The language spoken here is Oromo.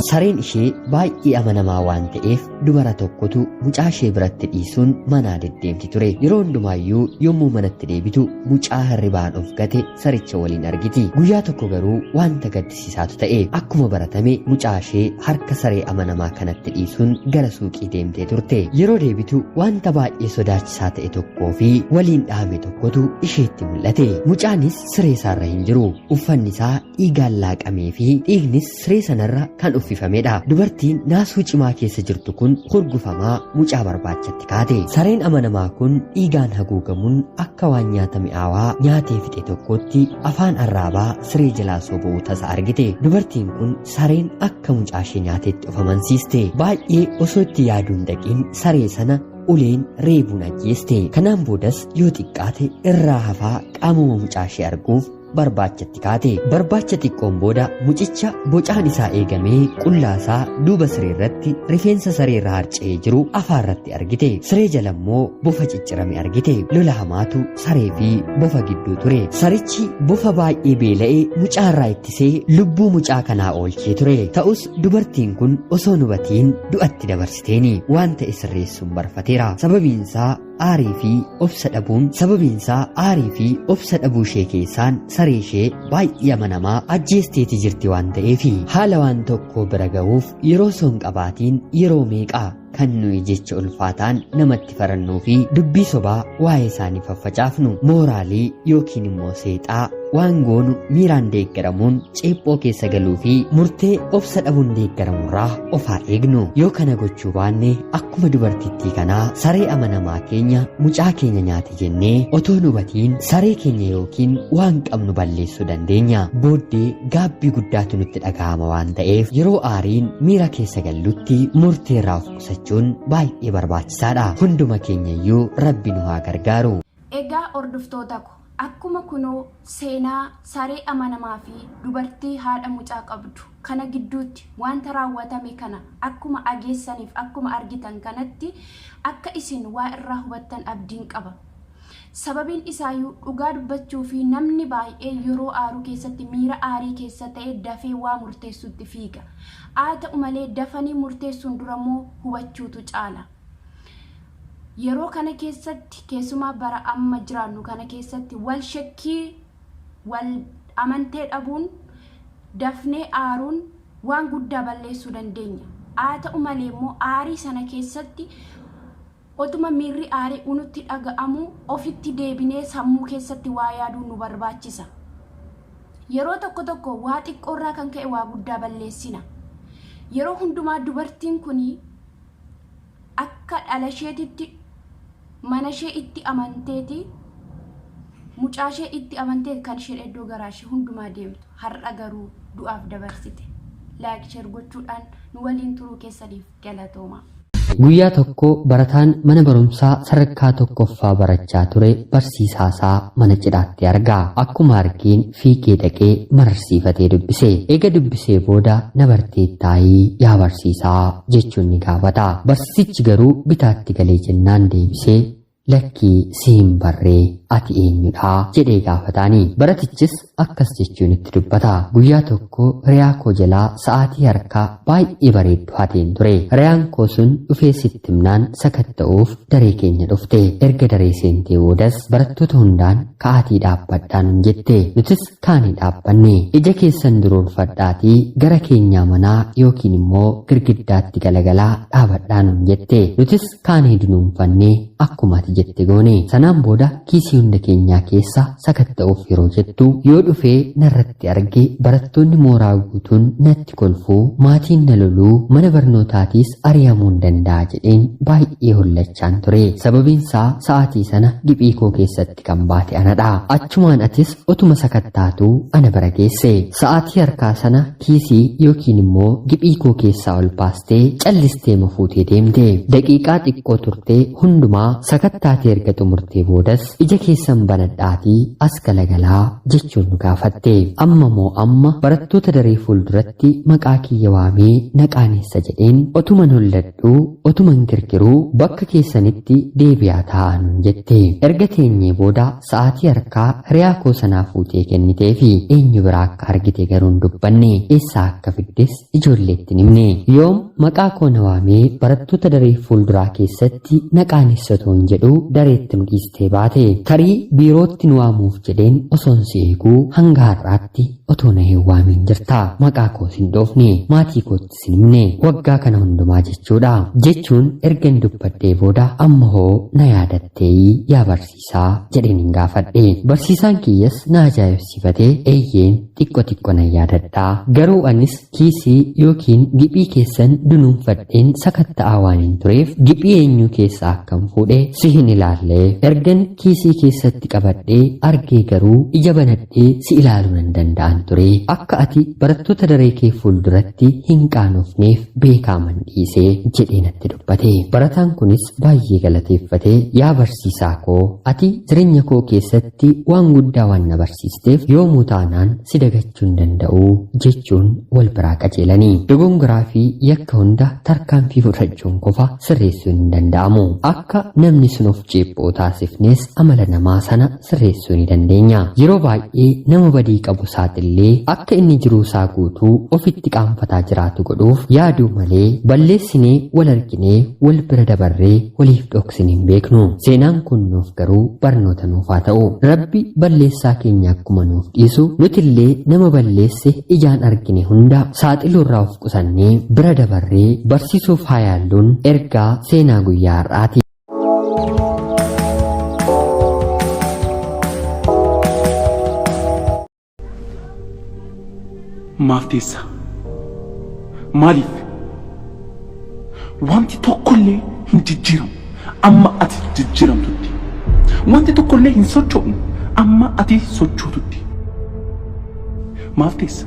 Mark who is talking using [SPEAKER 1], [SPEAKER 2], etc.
[SPEAKER 1] Sareen ishee baay'ee amanamaa waan ta'eef dubara tokkotu mucaa ishee biratti dhiisuun manaa deddeemti ture. Yeroo hundumaayyuu yommuu manatti deebitu mucaa hirribaan of gate saricha waliin argiti. Guyyaa tokko garuu wanta gaddisiisaatu ta'e. Akkuma baratame mucaa ishee harka saree amanamaa kanatti dhiisuun gara suuqii deemtee turte. Yeroo deebitu wanta baay'ee sodaachisaa ta'e tokkoo fi waliin dhahame tokkotu isheetti mul'ate. Mucaanis siree isaarra hin jiru. Uffanni isaa dhiigaan laaqamee fi dhiignis siree sanarra kan uffifamedha. Dubartiin naasuu cimaa keessa jirtu kun hurgufamaa mucaa barbaachatti kaate. Sareen amanamaa kun dhiigaan haguugamuun akka waan nyaata mi'aawaa nyaatee fixe tokkootti afaan arraabaa siree jalaa soba'uu tasa argite. Dubartiin kun sareen akka mucaa ishee nyaatetti of amansiiste. Baay'ee osoo itti yaaduun dhaqiin saree sana uleen reebuun ajjeeste. Kanaan boodas yoo xiqqaate irraa hafaa qaamuma mucaa ishee arguuf barbaachatti kaate barbaacha xiqqoon booda mucicha bocaan isaa eegamee qullaasaa duuba siree irratti rifeensa saree irra harca'ee jiru afaa irratti argite siree jala immoo bofa ciccirame argite lola hamaatu saree fi bofa gidduu ture sarichi bofa baay'ee beela'e mucaa irraa ittisee lubbuu mucaa kanaa oolchee ture ta'us dubartiin kun osoo hin hubatiin du'atti dabarsiteeni waan ta'e sirreessuun barfateera sababiin isaa aarii fi obsa dhabuun sababiinsaa aarii fi obsa dhabuu ishee keessaan saree ishee baay'ee amanamaa ajjeesteeti jirti waan ta'eef haala waan tokko bira ga'uuf yeroo soon qabaatiin yeroo meeqaa kan nuyi jecha ulfaataan namatti farannuu fi dubbii sobaa waa'ee isaanii faffacaafnu mooraalii yookiin immoo seexaa waan goonu miiraan deeggaramuun ceephoo keessa galuu fi murtee obsa dhabuun deeggaramurraa of haa eegnu yoo kana gochuu baanne akkuma dubartittii kanaa saree amanamaa keenya mucaa keenya nyaate jennee otoo nu batiin saree keenya yookiin waan qabnu balleessuu dandeenya booddee gaabbii guddaatu nutti dhaga'ama waan ta'eef yeroo aariin miira keessa gallutti murteerraa of qusachuun baay'ee barbaachisaadha hunduma keenya iyyuu rabbi nu haa gargaaru. Egaa
[SPEAKER 2] hordoftoota ko Akkuma kunoo seenaa saree amanamaa fi dubartii haadha mucaa qabdu kana gidduutti wanta raawwatame kana akkuma ageessan fi akkuma argitan kanatti akka isin waa irraa hubattan abdiin qaba. Sababiin isaayuu dhugaa dubbachuu fi namni baay'ee yeroo aaru keessatti miira aarii keessa ta'e dafee waa murteessuutti fiiga. Haa ta'u malee dafanii murteessuun dura immoo hubachuutu caala. Yeroo kana keessatti keessumaa bara amma jiraannu kana keessatti wal shakkii wal amantee dhabuun dafnee aaruun waan guddaa balleessuu dandeenya. Haa ta'u malee immoo aarii sana keessatti otuma miirri aarii unutti dhaga'amu ofitti deebinee sammuu keessatti waa yaaduu nu barbaachisa. Yeroo tokko tokko waa xiqqoorraa kan ka'e waa guddaa balleessina. Yeroo hundumaa dubartiin kuni akka dhalasheetitti manashee itti amanteeti mucaashee itti amanteeti kan isheen iddoo garaashee hundumaa deemtu har'a garuu du'aaf dabarsite laayik sheer gochuudhaan nu waliin turuu keessaniif galatooma. Guyyaa
[SPEAKER 1] tokko barataan mana barumsaa sadarkaa tokkoffaa barachaa ture barsiisaasaa mana cidhaatti arga. Akkuma argeen fiigee dhaqee mararsiifatee dubbise. Eega dubbisee booda na barteettaayi yaa barsiisaa jechuun ni gaafata. Barsiisichi garuu bitaatti galee jennaan deebisee lakkii si hin barree ati eenyudha jedhee gaafataani. Baratichis akkas jechuun itti dubbata. Guyyaa tokko hiriyaa koo jalaa sa'aatii harkaa baay'ee bareeddu hateen ture. Hiriyaan koo sun dhufee sitti himnaan sakatta'uuf daree keenya dhufte. Erga daree seentee boodas barattoota hundaan ka'aatii dhaabbadhaa nun jette nutis kaanee dhaabbanne ija keessan duroomfadhaatii gara keenyaa manaa yookiin immoo girgiddaatti galagalaa dhaabadhaa nun jette nutis kaanee dunuunfanne akkuma ati jette goone sanaan booda kiisii hunda keenyaa keessa sakatta'uuf yeroo jettu yoo dhufee narratti itti arge barattoonni mooraa guutuun natti kolfuu maatiin na loluu mana barnootaatiis ari'amuun danda'a jedheen baay'ee hollachaan ture sababiinsaa sa'aatii sana giphii koo keessatti kan baate anadha achumaan atis otuma sakattaatu ana bira geesse sa'aatii harkaa sana kiisii yookiin immoo giphii koo keessaa ol baastee callistee mafuutee deemte daqiiqaa xiqqoo turtee hundumaa sakattaatee erga xumurtee boodas Ija keessan banadhaatii as galagalaa jechuun nu gaafatte. Amma moo amma barattoota daree fuulduratti maqaa kiyya waamee na qaaneessa jedheen otuman holladhu otuman girgiruu bakka keessanitti deebi'aa taa'aa nuun jette. Erga teenyee booda sa'aatii harkaa hiriyaa koo sanaa fuutee kenniteefi eenyu biraa akka argite garuu hin dubbanne eessaa akka fiddes ijoolleetti hin himne. Yoom maqaa koo na waamee barattoota daree fuulduraa keessatti Itti na qaanessa otoon jedhuu dareetti nu dhiistee baate. Tarii biirootti nu waamuuf jedheen osoon si eeguu hanga har'aatti otoo na hin waamiin jirta. Maqaa koos hin dhoofne. Maatii koottis hin himne. Waggaa kana hundumaa jechuudha. Jechuun ergan dubbadhee booda amma hoo na yaadattee yaa barsiisaa? barsiisaa jedheen hin gaafadhe barsiisaan kiyyas na ajaa'ibsiifate eeyyeen xiqqo xiqqo nan yaadadha garuu anis kiisii yookiin giphii keessan dunuunfadheen sakatta'aa waan hin tureef giphii eenyuu keessaa akkan fuudhe si hin ilaalle ergan kiisii keessatti qabadhee argee garuu ija banadhee si ilaaluu nan danda'an ture akka ati barattoota daree kee fuulduratti hin qaanofneef beekaaman dhiise jedhee natti dubbate barataan kunis baay'ee galateeffate yaa barsiisaa koo ati jireenya koo keessatti waan guddaa waan na barsiisteef yoomuu taanaan si dagachuu hin danda'u jechuun wal biraa qajeelanii dogongoraa fi yakka hunda tarkaanfii fudhachuun qofa sirreessuun hin danda'amu akka namni sun of ceephoo taasifnees amala namaa sana sirreessuu ni dandeenya. Yeroo baay'ee nama badii qabu saaxillee akka inni jiruu isaa guutuu ofitti qaanfataa jiraatu godhuuf yaaduu malee balleessinee wal arginee wal bira dabarree waliif dhoksin hin beeknu. Seenaan kun nuuf garuu barnoota nuuf haa ta'u. Rabbi balleessaa keenya akkuma nuuf dhiisu nutillee nama balleesse ijaan argine hunda saaxiluurraa of qusannee bira dabarree barsiisuuf haa yaalluun ergaa seenaa guyyaa har'aati.
[SPEAKER 3] Maaf teessa? Maaliif? Wanti tokkollee hin jijjiiramu. Amma ati jijjiiramtutti. Wanti tokkollee hin socho'u. Amma ati sochootutti. Maaf teessa?